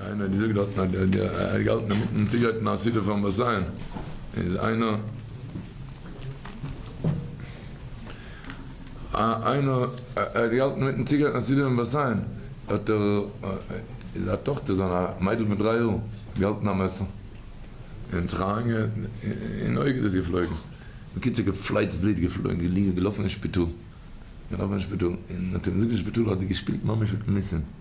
איינער האט געזאגט דארטן אז ער האט געהאלטן אינמיטן צוגרייטן א סעודה פארן באסיין איז איינער געהאלטן אינמיטן צוגרייטן א סעודה פארן באסיין האט ער איז א טאכטער זיינער א מיידל פון דריי יאר געהאלטן א מעסער און זיך אריינגעהאקט אין אויג איז עס געפלויגן בקיצור געפלייצט בלוט געפלויגן געליגן געלאפן אין שפיטאל געלאפן אין שפיטאל און האט אים געזאגט אין שפיטאל אז ער האט געשפילט ממש מיט מיסים.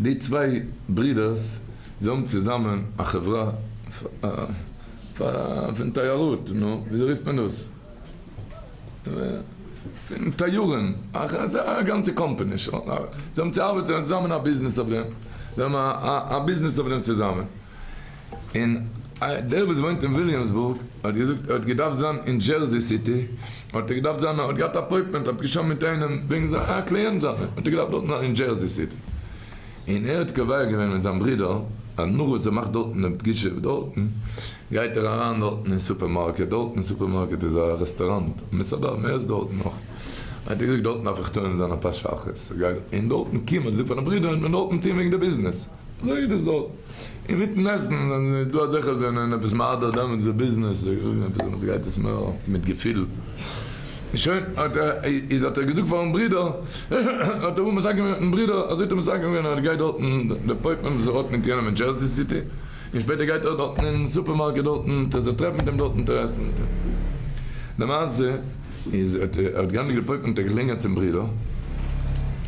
די צוויי ברידערס זיי האבן צוזאמען א חברה פון תיירות, נו וויאזוי רופט מען דאס? פון טיורען, אזא גאנצע קאמפעני זיי האבן צו ארבעטען צוזאמען א ביזנעס אויף דעם, זיי האבן א ביזנעס אויף דעם צוזאמען. און דער וואס וואוינט אין וויליאמסבורג האט געזאגט ער האט געדארפט זיין אין דזשערזי סיטי האט ער געדארפט זיין האט געהאט אפוינטמענט האט געשריבן מיט איינעם וועגן זיין א קליענט זיינע האט ער געדארפט דארטן זיין אין דזשערזי סיטי און ער האט קובע געווען מיט זיין ברודער אז נאך וואס ער מאכט דארטן דעם פגישה דארטן גייט ער אריין דארטן אין סופערמארקעט דארטן אין סופערמארקעט איז א רעסטוראנט און מסעדה און מער איז דארטן נאך האט ער געזאגט דארטן דארף איך טועם זיין אפאר שעות און דארטן קומען און זאגט פארן ברודער און דארטן טון וועגן די ביזנעס. זייער איז דארט אינמיטן עסן ווען איז דא אזעלכע וואס זענען עפעס מהדר דעמאלטס איז ביזנעס דעמאלטס גייט עס מער מיט געפיל און שוין האט ער איז האט ער געזאגט פארן ברודער האט ער מסכם געווען מיטן ברודער אזוי האט ער מסכם געווען אז ער גייט דארטן דער פויפט נעמט זיך אויף מיט יענעם אין דזשערסי סיטי און שפעטער גייט ער דארטן אין סופערמארקעט דארטן טער זיך טרעפן מיט אים דארטן טער עסן מיט אים למעשה איז האט ער האט גענדיגט די פויפט האט ער געקלינגען צום ברודער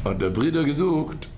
האט דער ברודער געזאגט.